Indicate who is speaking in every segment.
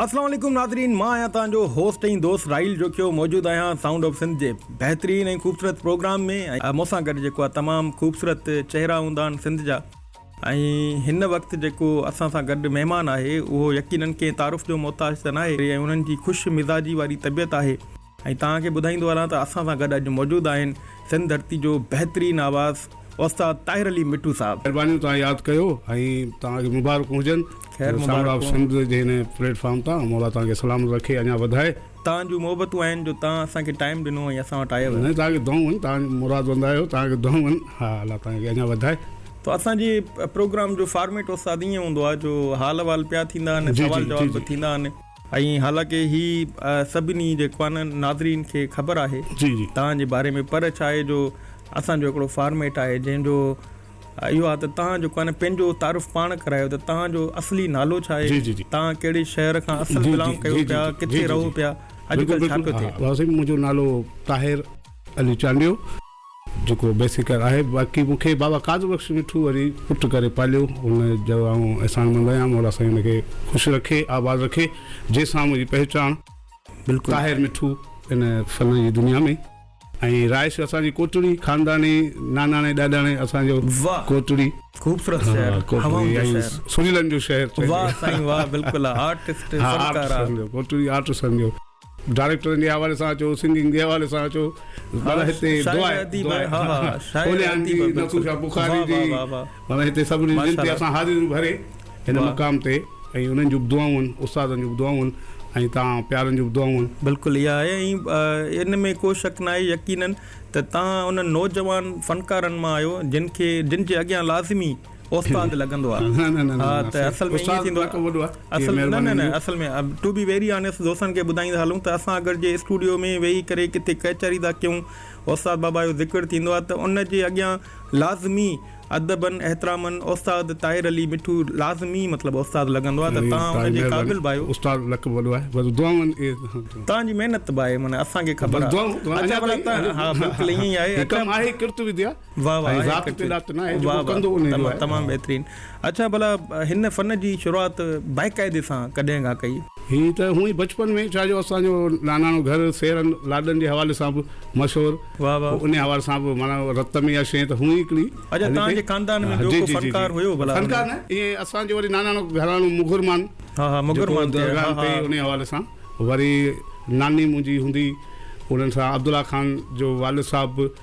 Speaker 1: السلام عليڪم ناظرين مان آهيان توهان جو هوسٽ ۽ دوست راحيل جوکيو موجود آهيان سائونڊ آف سنڌ جي بهترين ۽ خوبصورت پروگرام ۾ ۽ مون سان گڏ جيڪو آهي تمام خوبصورت چهرا هوندا آهن سنڌ جا ۽ هن وقت جيڪو اسان سان گڏ مهمان آهي اهو يقينن ڪنهن تعارف جو محتاج ته ناهي ۽ انهن جي خوش مزاجي واري طبيعت آهي ۽ توهان کي ٻڌائيندو هلان ته اسان سان گڏ اڄ موجود آهن سنڌ ڌرتي جو بهترين آواز استاد طاهر علي مٺو صاحب. مھرباني توھان ياد ڪيو
Speaker 2: ۽ توھان کي مبارڪون ھجن خير سانگھڙ آف مبارڪون.
Speaker 1: سنڌ جي
Speaker 2: ھن پليٽ فارم تان مولا توھان کي سلامت رکي اڃا وڌائي. توهان جون محبتون
Speaker 1: آهن جو توهان اسان کي ٽائيم ڏنو ۽ اسان وٽ آيو. ناهي توهان کي دعائون آهن توهان
Speaker 2: جون مراد بند آيو توهان کي دعائون آهن ها الله توهان کي اڃا وڌائي. تو اسان جي
Speaker 1: پروگرام جو فارميٽ استاد ايئن ھوندو آ جو حال احوال پيا ٿيندا آھن جي جي سوال جي جواب جي به ٿيندا آھن. ۽ حالانڪه هي سڀني جي خوانن ناظرين کي خبر آهي تان جي باري ۾ پر ڇا آهي جو اسان جو هڪڙو فارميٽ آهي جنهن جو اهو آهي ته تان جو خوان پنهنجو تعارف پاڻ ڪرايو ته تان جو اصلي نالو ڇا آهي تان ڪهڙي شهر کان اصل بلانگ ڪيو پيا ڪٿي رهو پيا اڄ ڪلهه ڇا پيو ٿئي. ڀائو سائين منهنجو نالو
Speaker 2: طاهر علي چانڊيو. جيڪو بيسيڪر آهي باقي مون کي بابا قادر بخش مٺو وري پٽ ڪري پاليو ان جو آئون احسان مند آهيان مولا سائين ان کي خوش رکي آباد رکي جنهن سان منهنجي پهچاڻ بلڪل طاهر مٺو ان فن جي دنيا ۾ ۽ رهائش اسان جي ڪوٽڙي خانداني ناناڻي ڏاڏاڻي اسان جو واھ ڪوٽڙي خوبصورت
Speaker 1: شهر هوائن جو شهر سريلن جو
Speaker 2: شهر چئجي واھ سائين واھ
Speaker 1: بلڪل آرٽسٽ فنڪارا ڪوٽڙي
Speaker 2: آرٽسٽن جو. ڊائريڪٽرن جي حوالي سان اچو سنگنگ جي حوالي سان اچو معنيٰ هتي دعا هونيان جي نصور شاهه بخاري جي معنيٰ هتي سڀني جي دل تي اسان حاضريون ڀري هن مقام تي ۽ انهن جون به دعائون آهن استادن جون به دعائون آهن ۽ توهان پيارن جون به دعائون آهن. بلڪل اها آهي ۽
Speaker 1: ان ۾ ڪو شڪ ناهي يقينن ته توهان انهن نوجوان فنڪارن مان آهيو جن کي جن جي اڳيان لازمي استاد لڳندو آ ها ته اصل ۾ ائين ٿيندو آ اصل نه نه نه اصل ۾ ٽو بي ويري آنيسٽ دوستن کي ٻڌائيندا هلون ته اسان اگر جي اسٽوڊيو ۾ ويهي ڪري ڪٿي ڪچهري ٿا ڪيون استاد بابا جو ذڪر ٿيندو آ ته ان جي اڳيان لازمي ادبن احترامن استاد طاهر علي مٺو لازمي مطلب استاد لڳندو آ ته تان ان جي قابل به آهيو استاد لقب وڏو آهي بس
Speaker 2: دعائون تان
Speaker 1: جي محنت به آهي معنيٰ اسان کي خبر آ اچا بلا ها بلڪل ائين آهي هڪ آهي ڪرت وديا واھ واھ ۽ ذات تي ڏات ناهي جو ڪو ڪندو انهي جو آهي. تمام بهترين اڇا ڀلا هن فن جي شروعات باقاعدي سان ڪڏهن کان ڪئي؟ هي ته هونء ئي بچپن
Speaker 2: ۾ ڇا جو اسان جو ناناڻو گهر سيرن لاڏن جي حوالي سان به مشهور واھ واھ. انهي حوالي سان به معنيٰ رت ۾ اها شيء ته هونء ئي هڪڙي اڇا توهان جي خاندان
Speaker 1: ۾ ٻيو ڪو فنڪار هيو ڀلا؟ فنڪار نه ائين اسان
Speaker 2: جو وري ناناڻو گهراڻو مغرمان ها ها مغرمان تي ها ها. انهي حوالي سان وري ناني منهنجي هوندي انهن سان عبدالله خان جو والد صاحب به.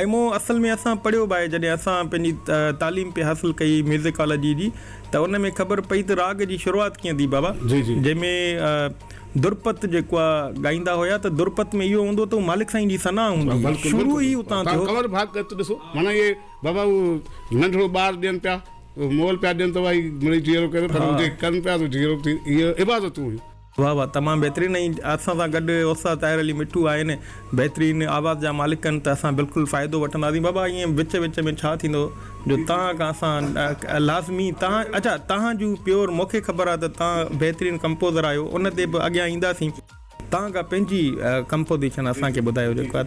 Speaker 1: اي مون اصل ۾ اسان پڙهيو به آهي جڏهن اسان پنهنجي تعليم پئي حاصل ڪئي ميوزيڪالاجي جي ته ان ۾ خبر پئي ته راڳ جي شروعات ڪيئن ٿي بابا جنهن ۾ درپت جيڪو آهي ڳائيندا هيا ته درپت ۾ اهو هوندو ته مالڪ سائين جي ثنا هوندي هئي شروع ئي اتان ٿيو. ڪنور ڀاڳ ڳت ڏسو
Speaker 2: معنيٰ اهي بابا اهو ننڍڙو ٻار ڏين پيا مول پيا ڏين ته اهي مڙئي جيئرو ڪري پر جي ڪن پيا ته جيئرو به ٿي اهي عبادتون هيون. واھ واھ تمام بهترين
Speaker 1: ۽ اسان سان گڏ استاد طاهر علي مٺو آهن بهترين آواز جا مالڪ ڪن ته اسان بلڪل فائدو وٺنداسين بابا ائين وچ وچ ۾ ڇا ٿيندو جو تان کان اسان لازمي تان اچا تان جون پيور مونکي خبر آ ته تان بهترين ڪمپوزر آهيو ان تي به اڳيان اينداسين تان کان پنهنجي ڪمپوزيشن اسان کي ٻڌايو جيڪا